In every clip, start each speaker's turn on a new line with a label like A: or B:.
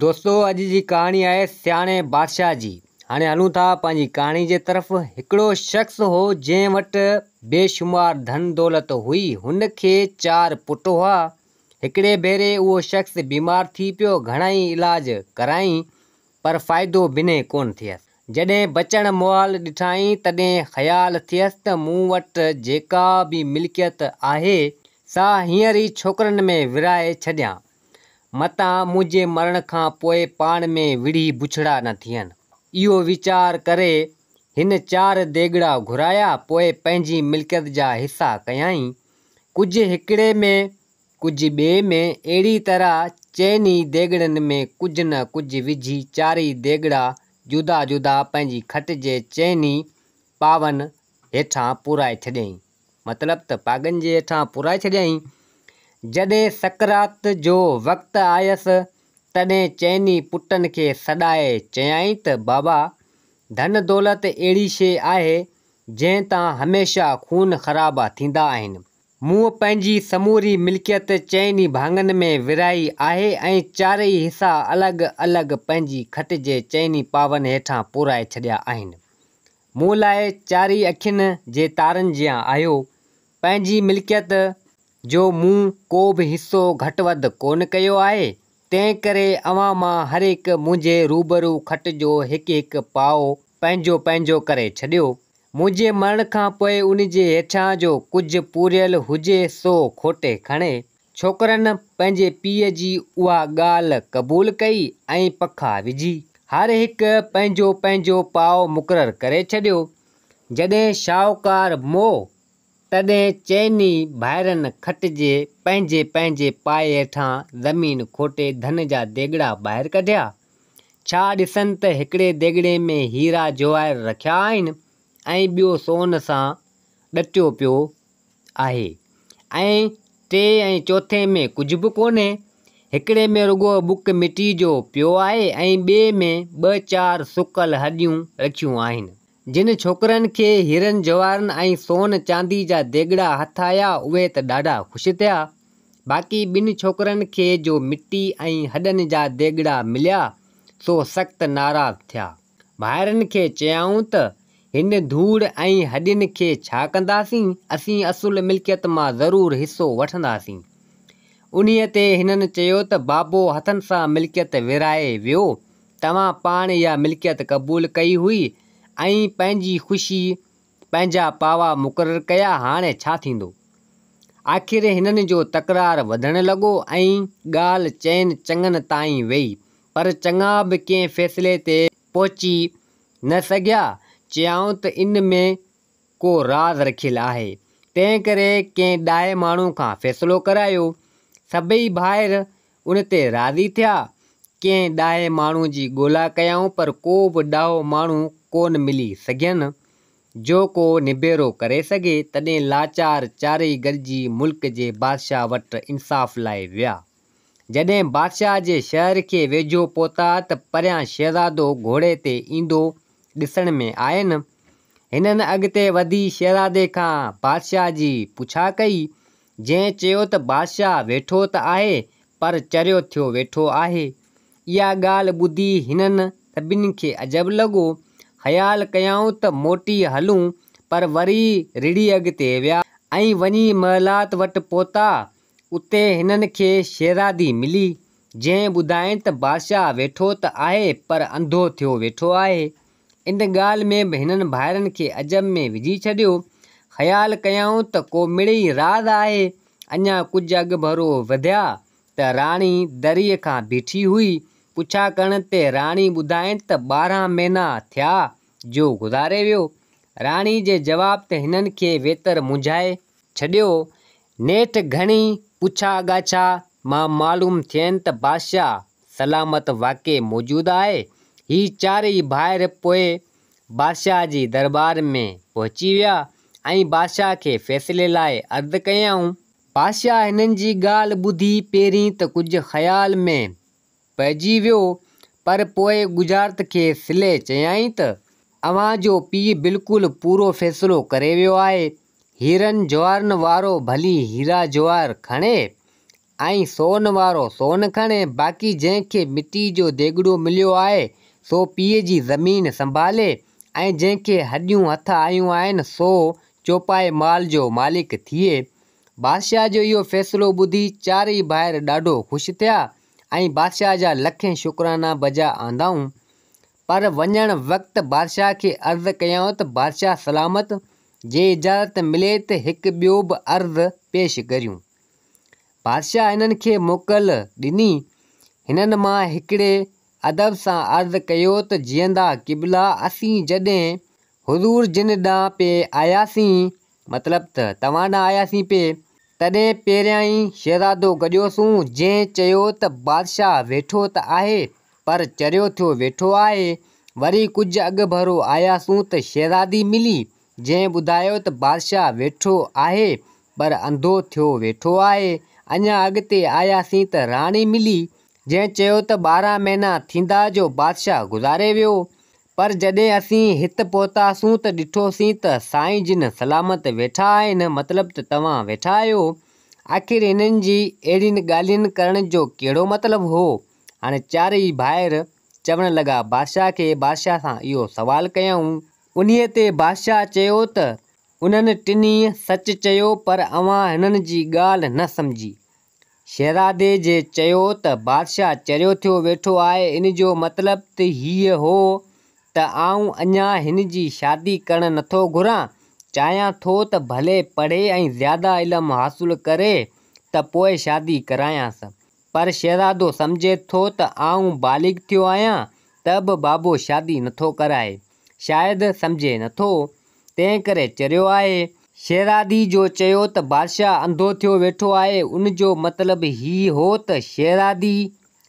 A: دوستو اڄ جي ڪهاڻي آهي سياڻي بادشاهه جي. هاڻي هلون ٿا پنهنجي ڪهاڻي جي طرف. هڪڙو شخص هو جنهن وٽ بي شمار ڌن دولت هئي. هن کي چار پٽ هئا. هڪڙي ڀيري اهو شخص بيمار ٿي پيو گهڻائي علاج ڪرايائين پر فائدو بنهه ڪونه ٿيس. جڏهن بچڻ محال ڏٺائين تڏهن خيال ٿيس ته مون وٽ جيڪا به ملڪيت آهي سا هينئر ئي ڇوڪرن ۾ ورهائي ڇڏيان. متان منهنجي مرڻ کان پوء پاڻ ۾ وڙهي بڇڙا نه ٿين. اهو ويچار ڪري هن چار ديڳڙا گهرايا پوء پنهنجي ملڪيت جا حصا ڪيائين، ڪجهه هڪڙي ۾، ڪجهه ٻئي ۾، اهڙي طرح چئن ئي ديڳڙن ۾ ڪجهه نه ڪجهه وجهي چارئي ديڳڙا جدا جدا پنهنجي کٽ جي چئن ئي پاون هيٺان پورائي ڇڏيائين. مطلب ته پاڳن جي هيٺان پورائي ڇڏيائين. جڏهن سقراط جو وقت آيس، تڏهن چئني پٽن کي سڏائي چيائين ته بابا، ڌن دولت اهڙي شيء آهي، جنهن تان هميشه خون خرابا ٿيندا آهن. مون پنهنجي سموري ملڪيت چئني ڀاڱن ۾ ورهائي آهي ۽ چارئي حصا الڳ الڳ پنهنجي کٽ جي چئني پاون هيٺان پورائي ڇڏيا آهن. مون لاء چاري اکين جي تارن جيان آهيو، پنهنجي ملڪيت جو مون ڪو به حصو گهٽ وڌ ڪونه ڪيو آهي، تنهنڪري اوهان مان هر هڪ منهنجي روبرو کٽ جو هڪ هڪ پاء پنهنجو پنهنجو ڪري ڇڏيو. منهنجي مرڻ کان پوء ان جي هيٺيان جو ڪجهه پوريل هجي سو کوٽي کڻي، ڇوڪرن پنهنجي پيء جي اها ڳالهه قبول ڪئي ۽ پکا وجهي، هر هڪ پنهنجو پنهنجو پاء مقرر ڪري ڇڏيو. جڏهن شاهوڪار مئو، تڏهن چئني ڀائرن کٽجي پنهنجي پنهنجي پائي هيٺان زمين کوٽي ڌن جا ديڳڙا ٻاهر ڪڍيا. ڇا ڏسن ته هڪڙي ديڳڙي ۾ هيرا جواهر رکيا آهن ۽ ٻيو سون سان ڏٽيو پيو آهي ۽ ٽي ۽ چوٿين ۾ ڪجهه به ڪونهي. هڪڙي ۾ رڳو ٻڪ مٽيء جو پيو آهي ۽ ٻئي ۾ ٻه چار سڪل هڏيون رکيون آهن. جن ڇوڪرن کي هيرن جواهرن ۽ سون چانديء جا ديڳڙا هٿ آيا، اهي ته ڏاڍا خوش ٿيا. باقي ٻن ڇوڪرن کي جو مٽي ۽ هڏن جا ديڳڙا مليا، سو سخت ناراض ٿيا. ڀائرن کي چيائون ته، هن ڌوڙ ۽ هڏين کي ڇا ڪنداسين؟ اسين اصل ملڪيت مان ضرور حصو وٺنداسين. انهيء تي هنن چيو ته، بابو هٿن سان ملڪيت ورهائي ويو، توهان پاڻ اها ملڪيت قبول ڪئي هئي ۽ پنهنجي خوشي پنهنجا پاوا مقرر ڪيا، هاڻي ڇا ٿيندو؟ آخر هنن جو تڪرار وڌڻ لڳو ۽ ڳالهه چئن چڱن تائين ويئي، پر چڱا به ڪنهن فيصلي تي پهچي نه سگهيا، چيائون ته ان ۾ ڪو راز رکيل آهي، تنهنڪري ڪنهن ڏاهي ماڻهو کان فيصلو ڪرايو. سڀئي ڀائر ان تي راضي ٿيا. ڪنهن ڏاهي ماڻهو جي ڳولا ڪيائون پر ڪو به ڏاهو ماڻهو ڪونه ملي سگهين، جو ڪو نبيرو ڪري سگهي، تڏهن لاچار چارئي گڏجي ملڪ جي بادشاهه وٽ انصاف لاء ويا. جڏهن بادشاهه جي شهر کي ويجهو پهتا ته پريان شهزادو گهوڙي تي ايندو ڏسڻ ۾ آين. هنن اڳتي وڌي شهزادي کان بادشاهه جي پڇا ڪئي، جنهن چيو ته بادشاهه ويٺو ته آهي پر چريو ٿيو ويٺو آهي. اها ڳالهه ٻڌي هنن سڀني کي عجب لڳو. خيال ڪيائون ته موٽي هلون پر وري رڙهي اڳتي ويا ۽ وڃي محلات وٽ پهتا اتي هنن کي شهزادي ملي، جنهن ٻڌائين ته بادشاهه ويٺو ته آهي پر انڌو ٿيو ويٺو آهي. ان ڳالهه ۾ به هنن ڀائرن کي عجب ۾ وجهي ڇڏيو. خيال ڪيائون ته ڪو مڙئي راز آهي. اڃا ڪجهه اڳڀرو وڌيا ته راڻي دريء کان بيٺي هئي. پڇا ڪرڻ تي راڻي ٻڌائين ته ٻارهن مهينا ٿيا جو گذاري ويو. راڻي جي جواب ته هنن کي ويتر مونجهائي. ڇڏيو، نيٺ گهڻي پڇا ڳاڇا مان معلوم ٿين ته بادشاهه سلامت واقعي موجود آهي. هي چارئي ڀائر پوء بادشاهه جي درٻار ۾ پهچي ويا ۽ بادشاهه کي فيصلي لاء عرض ڪيائون. بادشاهه هنن جي ڳالهه ٻڌي پهرين ته ڪجهه خيال ۾ پئجي ويو، پر پوء ڳجهارت کي سلي چيائين ته، اوهان جو پيء بلڪل پورو فيصلو ڪري ويو آهي. هيرن جواهرن وارو ڀلي هيرا جواهر کڻي ۽ سون وارو سون کڻي، باقي جنهن کي مٽي جو ديڳڙو مليو آهي، سو پيء جي زمين سنڀالي ۽ جنهن کي هڏيون هٿ آيون آهن، سو چوپائي مال جو مالڪ ٿئي. بادشاهه جو اهو فيصلو ٻڌي چار ئي ڀائر ڏاڍو خوش ٿيا ۽ بادشاهه جا لکين شڪرانا بجا آندائون. پر وڃڻ وقت بادشاهه کي عرض ڪيائون ته بادشاهه سلامت جي اجازت ملي ته هڪ ٻيو به عرض پيش ڪريون. بادشاهه هنن کي موڪل ڏني. هنن مان هڪڙي ادب سان عرض ڪيو ته جيئندا قبلا اسين جڏهن حضور جن ڏانهن پئي آياسين مطلب ته توهان ڏانهن آياسين پي. تڏهن پهريائين شهزادو گڏيوسون، جنهن چيو ته بادشاهه ويٺو ته آهي، پر چريو ٿيو ويٺو آهي. وري ڪجهه اڳڀرو آياسون ته شهزادي ملي، جنهن ٻڌايو ته بادشاهه ويٺو آهي، پر انڌو ٿيو ويٺو آهي. اڃا اڳتي آياسين ته راڻي ملي، جنهن چيو ته ٻارهن مهينا ٿيندا جو بادشاهه گذاري ويو، پر جڏهن اسين هت پهتاسون ته ڏٺوسين ته سائين جن سلامت ويٺا آهن، مطلب ته توهان ويٺا آهيو. آخر هنن جي اهڙين ڳالهين ڪرڻ جو ڪهڙو مطلب هو؟ هاڻي چارئي ڀائر چوڻ لڳا بادشاهه کي بادشاهه سان اهو سوال ڪيائون. انهيء تي بادشاهه چيو ته انهن ٽنهي سچ چيو پر اوهان هنن جي ڳالهه نه سمجهي. شهرادي جي چيو ته بادشاهه چريو ٿيو ويٺو آهي، ان جو مطلب ته هيء هو ته آئون اڃا هن جي شادي ڪرڻ نٿو گهران، چاهيان ٿو ته ڀلي پڙهي ۽ زياده علم حاصل ڪري ته پوء شادي ڪرايانس. پر شهرادو سمجهي ٿو ته آئون بالغ ٿيو آهيان ته به بابو شادي نٿو ڪرائي. شايد سمجهي نٿو، تنهن ڪري چريو آهي. شيرادي جو چيو ته بادشاهه انڌو ٿيو ويٺو آهي، ان جو مطلب هي هو ته شيرادي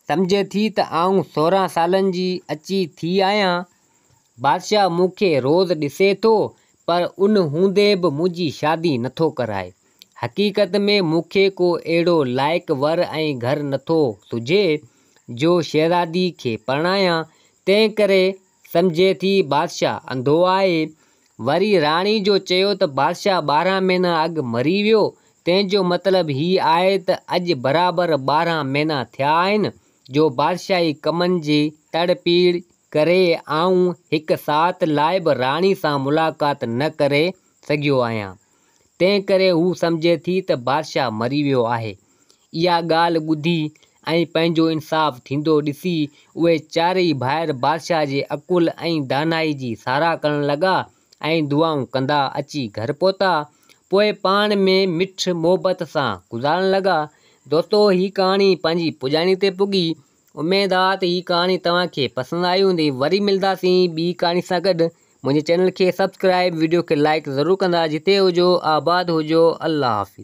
A: سمجهي ٿي ته آئون سورهن سالن جي اچي ٿي آهيان. بادشاهه مون کي روز ڏسي ٿو، پر ان هوندي به منهنجي شادي نٿو ڪرائي. حقيقت ۾ مون کي ڪو اهڙو لائق ور ۽ گهر نٿو سجهي، جو شيرادي کي پرڻايان، تنهن ڪري سمجهي ٿي بادشاهه انڌو آهي. وري راڻي جو چيو ته بادشاهه ٻارهن مهينا اڳ مري ويو، تنهن جو مطلب هي آهي ته اڄ برابر ٻارهن مهينا ٿيا آهن جو بادشاهي ڪمن جي تڙ پيڙ ڪري آئون هڪ ساعت لاء به راڻي سان ملاقات نه ڪري سگهيو آهيان. تنهنڪري هو سمجهي ٿي ته بادشاهه مري ويو آهي. اها ڳالهه ٻڌي ۽ پنهنجو انصاف ٿيندو ڏسي اهي چارئي ڀائر بادشاهه جي عقل ۽ دانائي جي ساراهه ڪرڻ لڳا ۽ دعائون ڪندا اچي گهر پهتا. پوء پاڻ ۾ مٺ محبت سان گذارڻ لڳا. دوستو هي ڪهاڻي پنهنجي پڄاڻي تي پڳي اميد آ ته هي ڪهاڻي توهان کي پسند آئي هوندي وري ملداسين ٻي ڪهاڻي سان گڏ منهنجي چينل کي سبسڪرائب وڊيو کي لائڪ ضرور ڪندا جتي هجو آباد هجو الله حافظ.